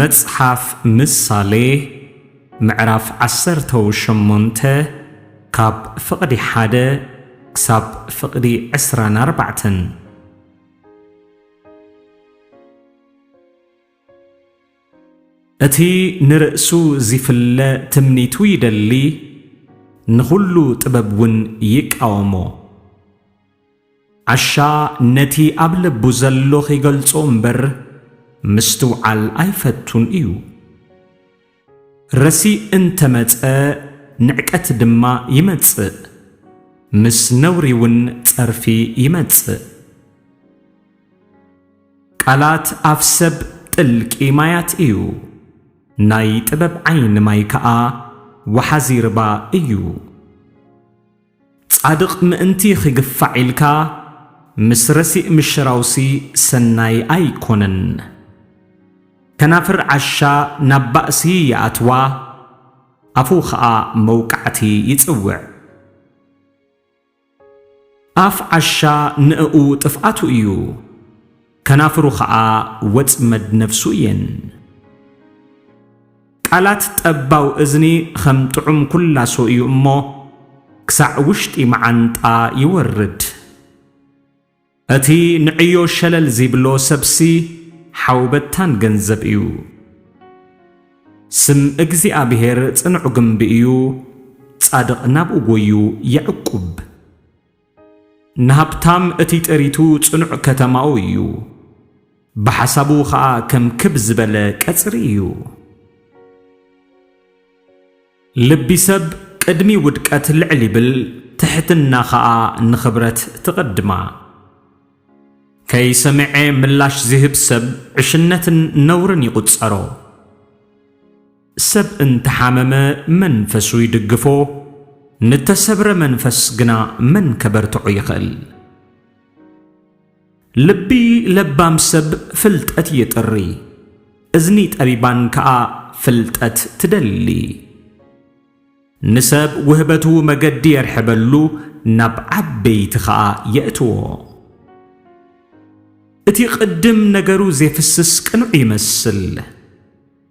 መጽሓፍ ምሳሌ ምዕራፍ ዓሰርተው ሸሞንተ ካብ ፍቕዲ ሓደ ክሳብ ፍቕዲ ዕስራን ኣርባዕተን እቲ ንርእሱ ዚፍለ ትምኒቱ ይደሊ፣ ንዅሉ ጥበብውን ይቃወሞ። ዓሻ ነቲ ኣብ ልቡ ዘሎ ኺገልጾ እምበር፣ ምስትውዓል ኣይፈቱን እዩ። ረሲእ እንተ መጸ፣ ንዕቀት ድማ ይመጽእ፣ ምስ ነውሪውን ጸርፊ ይመጽእ። ቃላት ኣፍ ሰብ ጥልቂ ማያት እዩ፣ ናይ ጥበብ ዓይኒ ማይ ከኣ ወሓዚ ርባ እዩ። ጻድቕ ምእንቲ ኺግፋዕ ኢልካ፣ ምስ ረሲእ ምሽራውሲ ሰናይ ኣይኰነን። ከናፍር ዓሻ ናብ ባእሲ ይኣትዋ፣ ኣፉ ኸኣ መውቃዕቲ ይጽውዕ። ኣፍ ዓሻ ንእኡ ጥፍኣቱ እዩ፣ ከናፍሩ ኸኣ ወጽመድ ነፍሱ እየን። ቃላት ጠባው እዝኒ ኸም ጥዑም ኩላሶ እዩ እሞ፣ ክሳዕ ውሽጢ መዓንጣ ይወርድ። እቲ ንዕዮ ሸለል ዚብሎ ሰብሲ፣ ሓው በታን ገንዘብ እዩ። ስም እግዚኣብሄር ጽኑዕ ግምቢ እዩ፣ ጻድቕ ናብኡ ጐዩ የዕቍብ። ንሃብታም እቲ ጥሪቱ ጽኑዕ ከተማኡ እዩ፣ ብሓሳቡ ኸኣ ከም ክብ ዝበለ ቀጽሪ እዩ። ልቢ ሰብ ቅድሚ ውድቀት ልዕል ይብል ትሕትና ከኣ ንኽብረት ትቕድማ። ከይሰምዔ ምላሽ ዝህብ ሰብ ዕሽነትን ነውርን ይቑጸሮ። ሰብ እንተሓመመ መንፈሱ ይድግፎ ንተሰብረ መንፈስ ግና መን ከበርትዖ ይኽእል። ልቢ ለባም ሰብ ፍልጠት የጥሪ፣ እዝኒ ጠቢባን ከኣ ፍልጠት ትደሊ። ንሰብ ውህበቱ መገዲ የርሕበሉ፣ ናብ ዓበይቲ ከኣ የእትዎ። እቲ ቕድም ነገሩ ዜፍስስ ቅኑዕ ይመስል።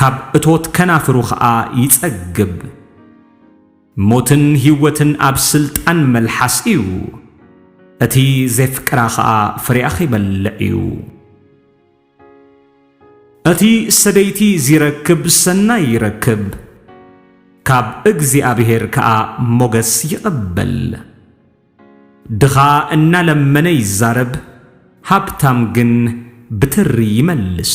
ካብ እቶት ከናፍሩ ከኣ ይጸግብ። ሞትን ህይወትን ኣብ ስልጣን መልሓስ እዩ፣ እቲ ዜፍቅራ ኸኣ ፍሬኣ ኺበልዕ እዩ። እቲ ሰደይቲ ዚረክብ ሰናይ ይረክብ፣ ካብ እግዚኣብሄር ከኣ ሞገስ ይቕበል። ድኻ እናለመነ ይዛረብ፣ ሃብታም ግን ብትሪ ይመልስ።